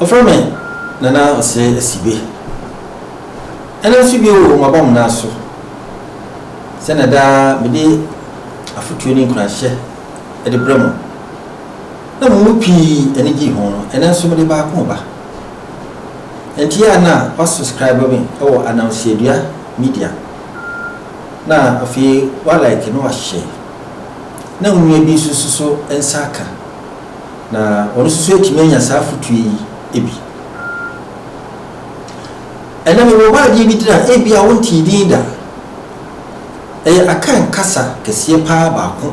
Wɔfrɛ me Nana Ɔsrɛ Asibe. Ɛnnɛ nso bio maba mo nan so sɛnea daa mede afotuo ne nkuranhyɛ de brɛ mo na mo mu pii ani gyee ho no, ɛnnɛ nso mede baako reba. Ɛnteɛ a na woasubscribe me wɔ Ananseadua Media na afei woalike na woahyɛ na wo nua bi nso suso nsa aka. Na wɔn nso so atumi anya saa afotuo yi bi. Ɛnna mewɔ hɔ adeɛ bi gyina ebi a wontee din da. Ɛyɛ Akan kasa kɛseɛ paa baako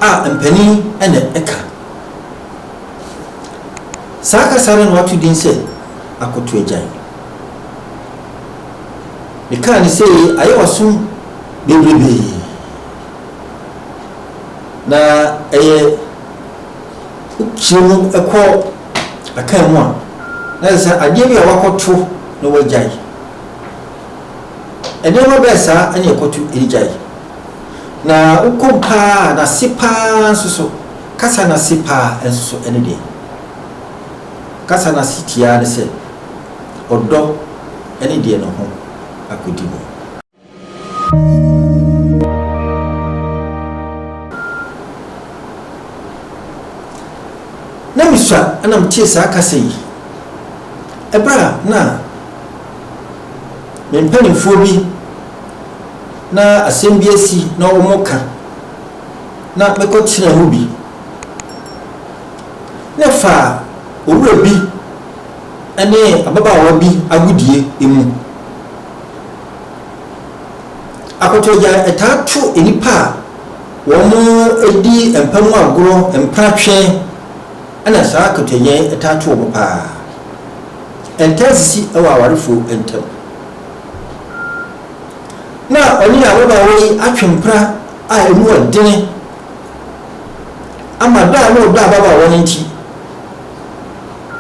a mpanin na ɛka. Saa kasa no na wato din sɛ Akoto Agyan. Mekaa no sɛ ayɛ wasom bebrebee. Na ɛyɛ wokyerɛ mu kɔ akan mu a, na ɛsɛ sɛ adeɛ bi a wakɔto na wagyae. Nneɛma bɛɛ saa ɛne ɛkɔto ɛde gyae. Na wokɔm paa a, n'ase paa nso so, kasa n'ase paa nso so ɛne deɛ. Kasa n'ase tiaa ne sɛ ɔdɔ ɛne deɛ ne ho akɔdi mu. Na misua na metee saa kasa yi ɛberɛ a na me mpanimfoɔ bi na asɛm bi asi na wɔka na mekɔtenaa mu bi na ɛfaa owura bi ne ababaawa bi agodie mu. Akotɔgya taa to nnipa a wɔdi mpa mu agorɔ, mpratwe na saa akotɔgya yi taa to wɔn pa ara. Ɛntaa sisi wɔ awarefoɔ ntam. Na ɔne ababaawa yi atwe mpra a ɛmu yɛ dene ama dɔ a na ɔdɔ ababaawa no nti,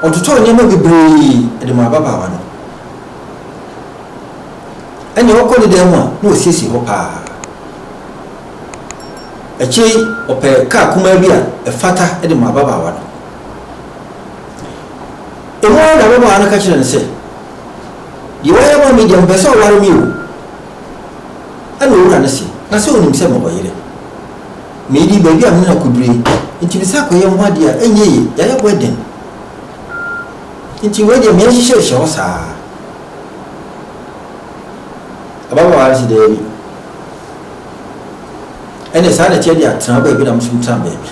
ɔtotɔɔ nneɛma bebree de maa ababaawa no. Ɛnna ɔkɔ ne dan mu a, na ɔsiesie hɔ paa. Akyire yi, ɔpɛɛ kaa kumaa bi a ɛfata de maa ababaawa no. Ɛmu ara na ababaawa no ka kyerɛɛ no sɛ, Deɛ woayɛ ama me deɛ, mepɛ sɛ ɔware me o. Ɛnna owura no se, Na sɛ wonim sɛ mewɔ yere? Meredi baabi a me ne no akɔdurui, enti mesan akɔyɛ ho adeɛ a, ɛnyɛ yie, yɛayɛ wedding. Enti wei deɛ, merenhyehyɛ nhyɛ hɔ saa. Ɔbɛma w'adze daabi. Ɛnna saa na ɛteɛ de atena baabi na nso tra baabi.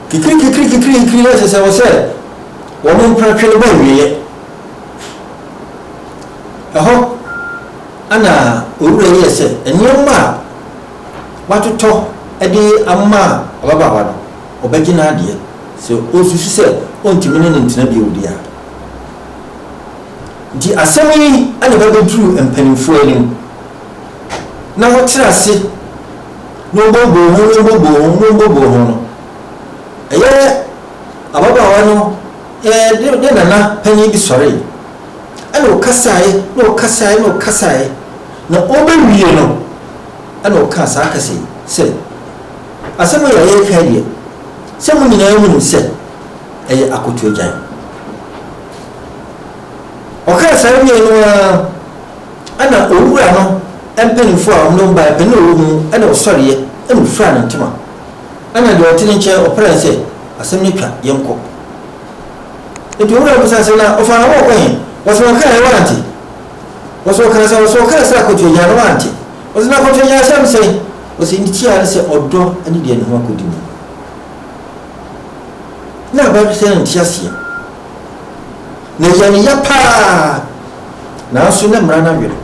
Kikiri kikiri kikiri kikiri ɛsɛ sɛ wɔ sɛ wɔn mpratwe no bɔ awieɛ. Ɛhɔ ɛna owura yi yɛ sɛ nneɛma a watotɔ de ama ababaawa no ɔbɛgye n'adeɛ sɛ ɔsusu sɛ ɔntumi ne no ntena bio deɛ a. Nti asɛm yi na ɛba bɛduru mpanimfoɔ anim, na wɔtena ase na wɔboboo ho, na wɔboboo ho, na wɔboboo ho no, ɛyɛ ababaawa no ɛɛ ne nana panin bi sɔree, ɛna ɔkasaeɛ, na ɔkasaeɛ, na ɔkasaeɛ, na ɔbɛwie no, ɛna ɔkaa saa kasa yi sɛ, Asɛm a yɛreka deɛ, sɛ mo nyinaa nim sɛ, ɛyɛ akoto agyan. Ɔkaa saa wiee no ara ɛna owura no mpanyinfoɔ a wɔnom baeɛ panin a ɔwɔ mu no ɛna ɔsɔreɛ ɛna ɔfiraa ne ntoma ɛna deɛ ɔte ne nkyɛn ɔpraa ne sɛ asɛm no atwa yɛnkɔ. Nti owura no bisaa sɛ na ɔfaa na wɔɔkɔ he? Wɔsɛ ɔkaeɛ wante? Wɔsɛ ɔkaa sɛ wɔsɛ ɔkaa sɛ akoto agyan no wante? Wɔsɛ na akoto agyan asɛm sɛn? Wɔsɛ ne tiaa ne sɛ ɔdɔ ne deɛ ne ho akɔdi mu. na aba bi sɛ nte aseɛ na ɛyɛ ne ya paa nanso na mmara no awere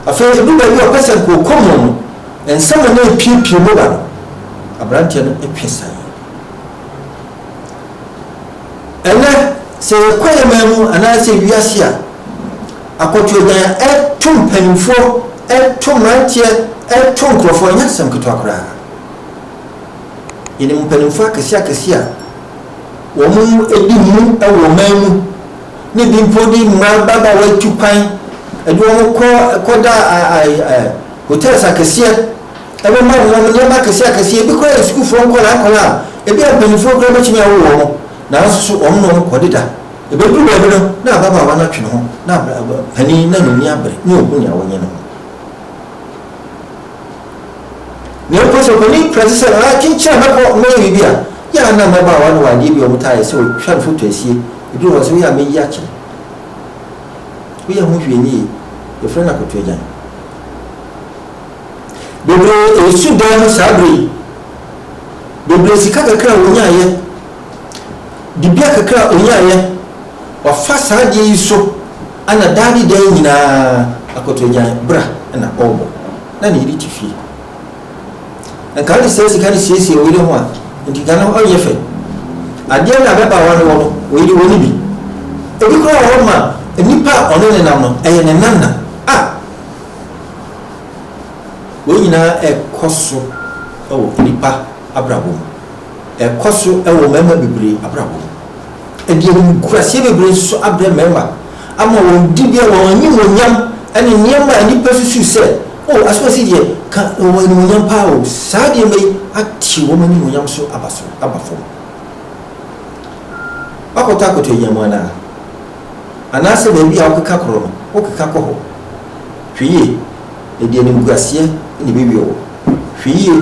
afei nti ɛdu baabi a ɔpɛ sɛ nkookɔ mu no nsɛm a na ɛpiepie mu ba no aberanteɛ no twe sae ɛnɛ sɛ yɛkɔ yɛ man mu anaasɛ wiase a akɔtweɔgyan a ɛto mpanimfoɔ ɛto mmeranteɛ ɛto nkurɔfoɔ nyɛ asɛm ketewa koraa Yɛnim mpanimfoɔ akɛseakɛseɛ a wɔadi mu wɔ ɔman mu na ebi mpo de mmara ababaawa atu kwan de wɔn kɔ kɔda hotels akɛseɛ ɛbɛma wɔn nneɛma akɛseakɛseɛ. Ebi koraa yɛ sukuufoɔ nkwadaa nkwadaa a ebi a mpanimfoɔ koraa bɛtumi awo wɔn nanso so wɔn na wɔn kɔdeda. Ɛbɛduru baabi no na ababaawa no atwe ne ho na panin na n'ani abere na ɔhu nea wɔnyɛ no ho. Na mpo sɛ ɔpanin pira ti sɛ aa kyenkyen a mɛkɔ mɛyɛ biribi a, yɛ a na mmabaawa no wɔ adeɛ bi a wɔtaa yɛ sɛ wɔtwa no foto asie, ɛduru hɔ a sɛ woyɛ a mɛyi akyɛ no. Woyɛ ho hwee nyɛ yie. Yɛfrɛ no akotoagyan. Bebree resu dan ho saa berɛ yi. Bebree sika kakra a wɔnyaeɛ. Dibea kakra a onyaeɛ, wafa saa adeɛ yi so na daa ne daa nyinaa akoto agyan bra na ɔrebɔ. Na ne yere te fie. Na nka ɔde saa sika no siesie ɔyere ho a, nti nka no ɔnyɛ fɛ. Adeɛ no a bɛba aware wɔ no, ɔyere wɔ no bi. Ebi koraa wɔ hɔ ma nipa a ɔne ne nam no, ɛyɛ ne nana. A! Wei nyinaa ɛkɔ so wɔ nipa abrabɔ mu. Ɛkɔ so wɔ mmarima bebree abrabɔ mu. Ɛde animguaseɛ bebree nso so abrɛ mmarima ama wɔn dibea, wɔn animuonyam, ne nneɛma a nnipa susu sɛ, Oh, asomasi deɛ, ka na wɔwɔ animuonyam pa ara o. Saa nneɛma yi atew wɔn animuonyam so aba so aba fam. Woakɔtɔ akoto agyan mu anaa? Anaasɛ baabi a wokeka korɔ no, wokeka kɔ hɔ? Hwɛ yie, ɛde animguaseɛ na ɛbɛwie wo. Hwɛ yie.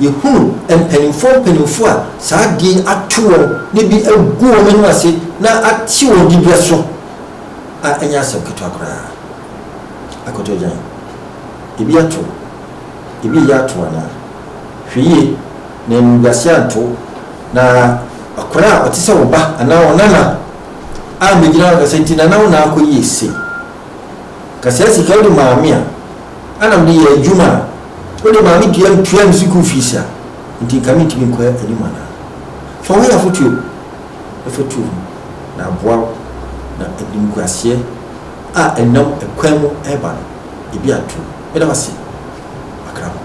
Yɛhunu mpanimfoɔ mpanimfoɔ a saa adeɛ yi ato wɔn na bi agu wɔn anim ase na ate wɔn diberɛ so a ɛnyɛ asɛm ketewa koraa. Akoto Agyan, ebi ato wo, ebi reyɛ ato wo anaa? Hwɛ yie na animguaseɛ anto wo na akwadaa a ɔte sɛ wo ba anaa wo nana ammɛgyina hɔ akasa nti nana wo nan akɔ yie sei. Kaseɛ sika wode maame a. Ana mede yɛ adwuma a wode maa me dua no tuaa me sukuu fees a enti nka mentumi nkɔ anim anaa? Fa wo yɛ afotuo na fa tu ho na aboa wo na animguaseɛ a ɛnam ɛkwan mu reba no ebi ato wo. Meda wo ase, Akraman.